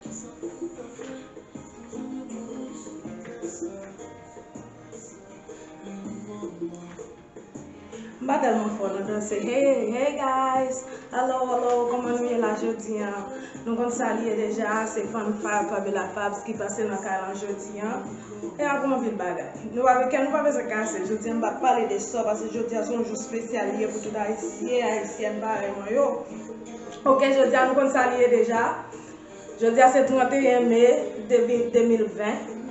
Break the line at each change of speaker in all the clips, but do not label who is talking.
M pa tèlman fò nan danse Hey hey guys Hello hello Kòman nou ye la jodi an Nou konn sa li ye deja Se Fann Fab Fabiola Fabs ki pase nan kay lan jodi an E ak yon anpil bagay Nou pa kè nou pa bezwen kase Jodi an m pa pale de sò Pase jodi an se yon jou spesyal li ye pou tout ayisyen ayisyèn parèy mwen yo Ok jodi an nou konn sa li ye deja Jodi a se 31 me 2020,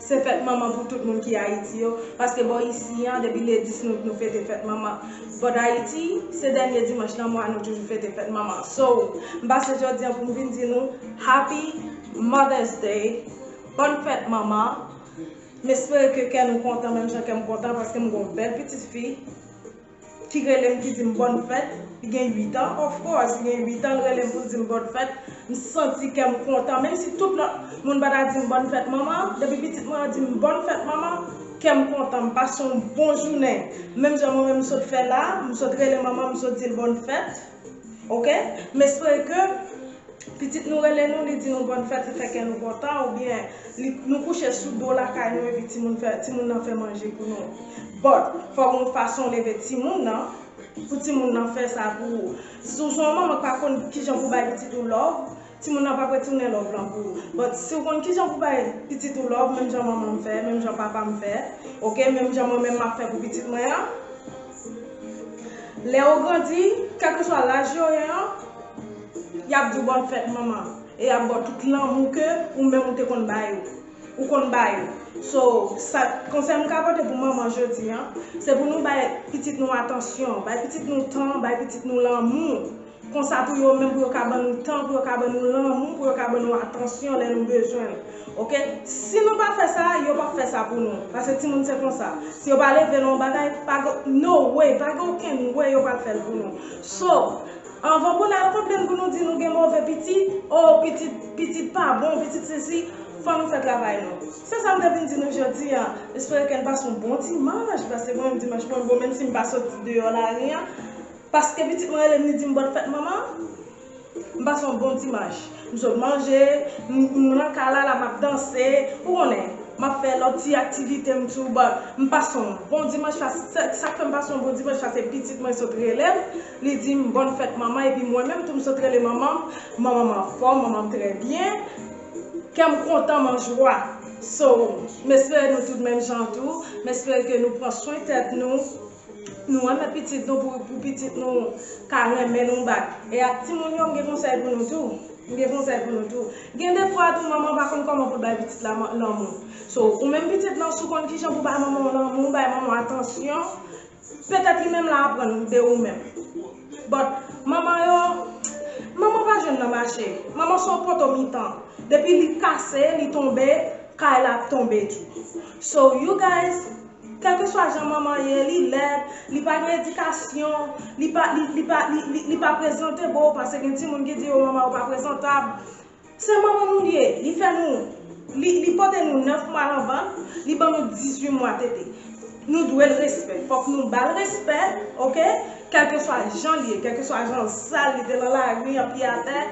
se fèt manman pou tout moun ki Ayiti yo, paske bò isi an depi le 10 nout nou fete fèt manman, bò dayiti se dènye dimanch nan mwa nou toujou fete fèt manman, so m pase jodi an pou m vin di nou Happy Mother's Day, bòn fèt manman, m espere ke kè nou kontan menm jan kè m kontan paske m gen yon bèl pitit fi. ki rele m ki di m bòn fèt, li gen 8 an, of course li gen 8 an, li rele m pou l di m bòn fèt, m santi kè m kontan, menm si tout lòt moun pa ta di m bòn fèt manman, depi pitit mwen an di m bòn fèt manman, kè m kontan, m pase yon bon jounen, menm jan mwen menm m sot fè la, m sot rele manman m, m sot di l bòn fèt. Ok m espere ke pitit nou rele nou li di nou bòn fèt li fè kè nou kontan oubyen nou kouche sou do lakay nou epi timoun nan fè manje pou nou but fò gen yon fason leve timoun nan pou timoun nan fè sa pou ou si w son yon manman k pa konn kijan pou bay pitit ou love Timoun nan pap retounen love lan pou ou but siw konn kijan pou bay pitit ou love menm jan manmanm fè menm jan papam fè ok menm jan mwen menm map fè pou pitit mwen an lè yo grandi kèlkeswa laj yo ye an yap diw bòn fèt manman e yap baw tout lanmou ke ou menm ou te konn ba yo ou konn ba yo so sa konsèy m ka pote pou manman jodi an se pou nou bay pitit nou atansyon bay pitit nou tan bay pitit nou lanmou. Konsa tou yo menm pou yo ka ban nou tan, pou yo ka ban nou lanmou, pou yo ka ban nou atansyon lè nou bezwen l. Ok. Si nou pa fè sa, yo p ap fè sa pou nou. Pase timoun se konsa. Si yo pa leve nan yon bagay, pa gen, no way, pa gen okenn way yo pral fè l pou nou. So, anvan pou n al konplenn pou nou di nou gen move pitit, o, pitit, pitit pa bon, pitit sesi, fò nou fè travay nou. Se sa m te vin di nou jodi a. M espere ke n pase yon bon dimanch, pase mwen menm dimanch mwen bon menm si m pa soti deyò lari an. Paske pitit mwen rele m li di m bòn fèt manman, m pase yon bon dimanch. M sot manje, m nan kay la la m ap danse, ou konnen, m ap fè lòt ti aktivite m tou but m pase yon bon dimanch paske sa k fè m pase yon bon dimanch paske pitit mwen sot rele m li di m bòn fèt manman epi mwen menm tou m sot rele manman m, manman m anfòm, manman m trè byen, kè m kontan m anjwa. So, m espere nou tout menm jan tou, m espere ke nou pran swen tèt nou. Nou renmen pitit nou pou pitit nou ka renmen nou bat. E ak timoun yo m gen konsèy pou nou tou. M gen konsèy pou nou tou. Gen defwa tou manman pa konn kòman pou l bay pitit la lanmou. So, ou menm pitit lan si w konn kijan pou bay manman w lanmou, bay manman w atansyon, petèt li menm la aprann de ou menm. But, manman yo, manman pa jwenn nan mache. Manman se yon poto mitan. Depi li kase, li tonbe, kay la ap tonbe tou. So, you guys. Kèlkeswa jan manman an ye, li lèd, li pa gen edikasyon, li pa li pa li pa prezantebo pase gen timoun ki di yo manman yo pa prezantab. Se manman nou li ye, li fè nou li li pote nou 9 mwa nan vant, li ban nou 18 mwa tete. Nou dwe l respè, fòk nou ba l respè ok, kèlkeswa jan l ye, kèlkeswa jan sal li te nan lari an pye atè,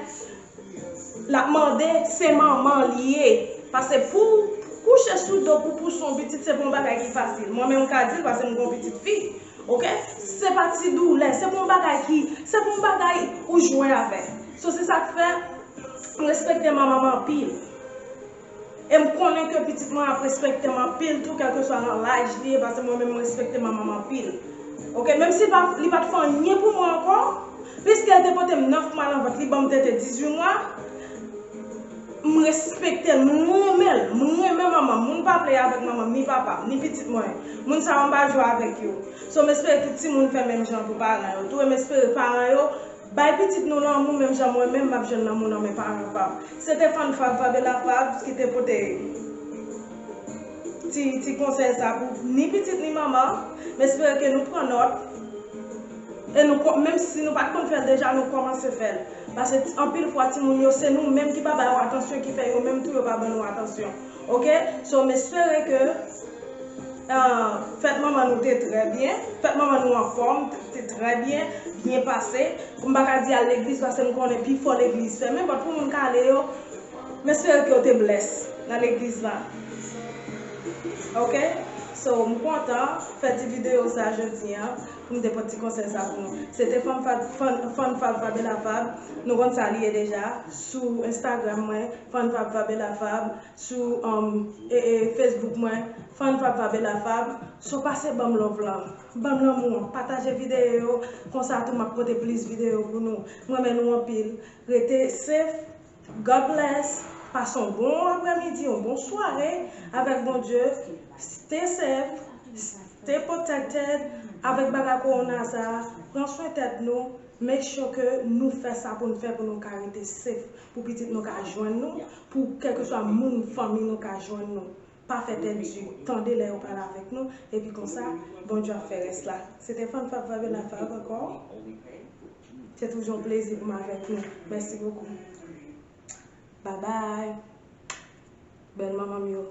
Lap mande se manman li ye. Pase pouw kouche sou do pou pouse yon pitit se pa yon bagay ki fasil. Mwen menm ka dil pase m gen yon pitit fi. Ok se pa ti doulè se pa yon bagay ki se pa yon bagay ou jwe avèl. So se sak fè m respekte manmanm anpil. E m konnen ke pitit mwen ap respekte m anpil tou kèlkeswa nan laj li ye pase mwen menm m respekte manman m anpil ok menm si li pat fè anyen pou mwen ankò piske l te pote m 9 mwa nan vant li banm tete 18 mwa m respekte l m renmen l m renmen manman m moun pa play avèk manman m ni papa m ni pitit mwen moun sa yo m pa jwe avèk yo so m espere tout timoun fè menm jan pou paran yo tou e m espere paran yo Bay pitit nou lanmou menm jan mwen menm map jwenn lanmou nan men paran pam. Se te fan Fab Fabela Fabs ki te pote ti ti konsèy sa pou ni pitit ni manman. M espere ke nou pran nòt e nou ko menm si nou pat konn fèl deja nou kòmanse fèl. Pase anpil fwa timoun yo se nou menm ki pa ba yo atansyon ki fè yo menm tou yo pa ban nou atansyon. Ok so m espere ke fèt manman nou te trè byen, fèt manman nou anfòm, te trè byen, byen pase, m pa ka di al legliz paske m konnen pifò legliz fèmen but pou moun k ale yo m espere ke yo te bless nan legliz la ok so m kontan fè ti video sa jodi an. Pou m te pot ti konsèy sa pou nou. Se te fan fan fab fabela fab nou konn sa li ye deja sou instagram mwen fan fab fabela fab sou facebook mwen fan fab fabela fab so pase banm love lan banm lanmou an pataje video yo konsa tou map pote plis video pou nou m renmen nou anpil rete safe. God bless, pass on bon aprè midi on bon sware avèk Bondye, stay safe, stay protected avèk bagay corona sa, pran swen tèt nou, make sure ke nou fè sa poun fè pou nou ka rete safe, pou pitit nou ka jwenn nou, pou kèlkeswa moun fanmi nou ka jwenn nou. Pa fè pèdi tande lè yo pale avèk nou epi konsa Bondye ap fè rès la. Se te Fun Fav Vibe na Vibe ankò. Se toujou yon plezi pou m avèk nou. Mèsi bokou. Bye bye. Bèl manman m yo.